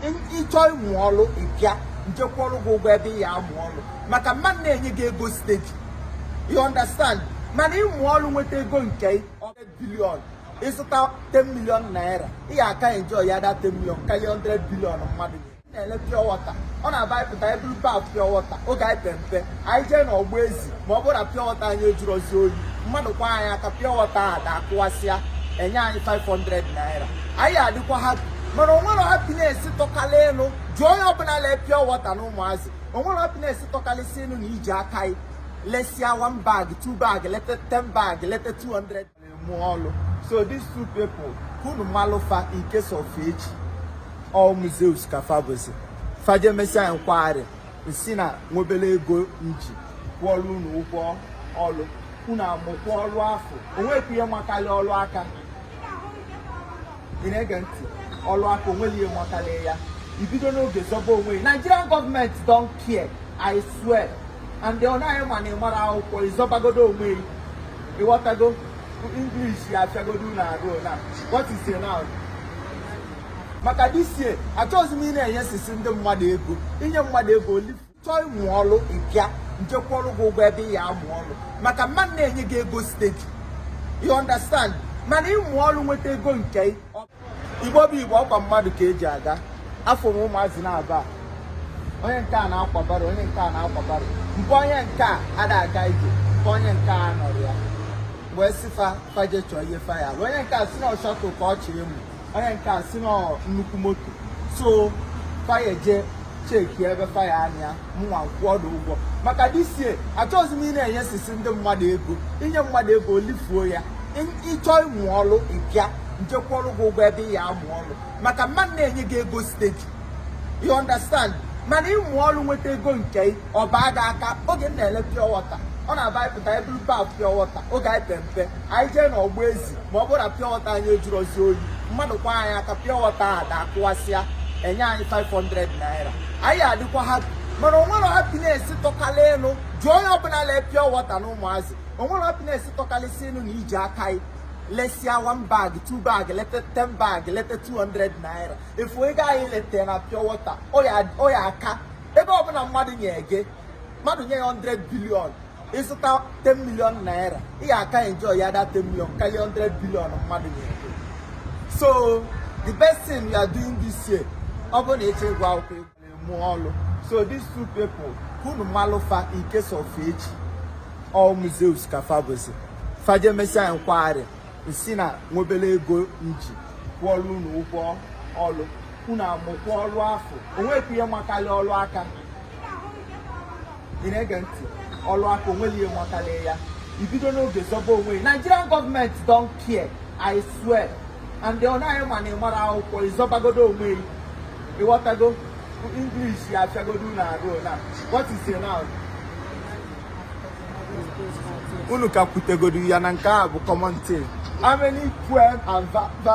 ịchọ ịmụ ọrụ ịbịa nje kwụọrọ gị ụgwọ ebe ị ya amụ ọrụ maka mmadụ na-enye gị ego steady you understand mana ịmụ ọrụ nweta ego nke i 100 billion ịzụta 10 million naira ị ya aka enjoy ya that 10 million karịa 100 billion mmadụ na-ele pure water ọ na-abụ anyị pụta eburu baf pure water oge anyị pere mpe anyị jee na ọgba ezi ma ọ bụrụ na pure water anyị ajụrọzi oyi mmadụ kwaa anyị aka pure water adaa akụwasịa enye anyị 500 naira anyị adịkwa happy mana onwere happiness tọkala elu jụọ onye ọbụla lee pure water na ụmụazị onwere happiness tọkalịsị elu na iji aka anyị lesịa 1 bag 2 bag leta 10 bag leta 200 mụọ ọlụ so these two people ka unu malụ fa in case of echi all museums ka fa bụzi fa je mesia nkwagharị nsi na nwebere ego nji kwụọlụ unu ụgwọ ọlụ unu amụkwa ọlụ afụ onwekwu ihe makarị ọlụ aka ị na-ege ntị ọlụ aka onweghị ihe makarị ya ibido n'oge zọba onwe gị nigerian government don't care i swear and ọ naghị ma na ị mara akwụkwọ ị zọbagodu onwe gị ịghọtago English ya afịagodu unu arụ na what is it now maka this year achọghịzi m ị na-enyesịsị ndị mmadụ ego inye mmadụ ego olifuo ị chọọ ịmụ ọrụ ịbịa nje kwụọrọ gị ụgwọ ebe ị ya amụ ọrụ maka mmadụ na-enye gị ego steady you understand mana ịmụ ọrụ nweta ego nke igbo bụ igbo ọkwa mmadụ ka eji aga afụ m ụmụazị n'Aba onye nke a na-akwa barrow onye nke a na-akwa barrow mgbe onye nke a ada aga ije mgbe onye nke a nọrọ ya wee sị fa fa je chọọ ihe fa ya alụ onye nke a si na ọ shuttle ka ọ chọrọ ịmụ onye nke a si na nnukwu moto so fa ya eje check ebe fa ya anya mụnwa kwụọ na ụgwọ maka this year achọghịzi m ị na-enyesịsị ndị mmadụ ego inye mmadụ ego olifuo ya ịchọ ịmụ ọrụ ịbịa nje kwụọrọ gị ụgwọ ebe ị ya amụ ọrụ maka mmadụ na-enye gị ego steady you understand mana ịmụ ọrụ nweta ego nke i ọ baa gị aka oge m na-ele pure water ọ na-abụ anyị pụta eburu baf pure water oge anyị pere mpe anyị jee na ọgba ezi ma ọ bụrụ na pure water anyị ajụrọzi oyi mmadụ kwaa anyị aka pure water adaa akụwasịa enye anyị 500 naira anyị adịkwa happy mana onwere happiness tọkala elu jụọ onye ọbụla lee pure water na ụmụazị onwere happiness tọkalịsị elu na iji aka anyị lesịa one bag two bag leta ten bag leta 200 naira ị fụ ego anyị leta na pure water ọ ya aka ebe ọbụla mmadụ nye gị mmadụ nye gị 100 billion ịzụta 10 million naira ị ga-aka enjoy ya that 10 million karịa 100 billion mmadụ nye gị so the best thing we are doing this year ọ bụrụ na ị chọghị ịgụ akwụkwọ mụọ ọlụ so these two people ka unu malụ fa in case of echi ọ moses ka fa bụzi fa je mesịa nkwagharị m sị na m nwe obele ego m ji kwụọlụ unu ụgwọ ọlụ unu amụkwa ọlụ afụ onwekwu ihe makalị ọlụ aka ị na-ege ntị ọlụ aka onweli ihe mụtalị ya ibido n'oge zọba onwe gị nigerian government don't care i swear and ọ naghị ama na ị mara akwụkwọ ị zọbagodo onwe gị ị ghọtago english ya afịagodo unu arụ na what is it now unu ka kwutegodo ya na nke a bụ common thing how many poem and va va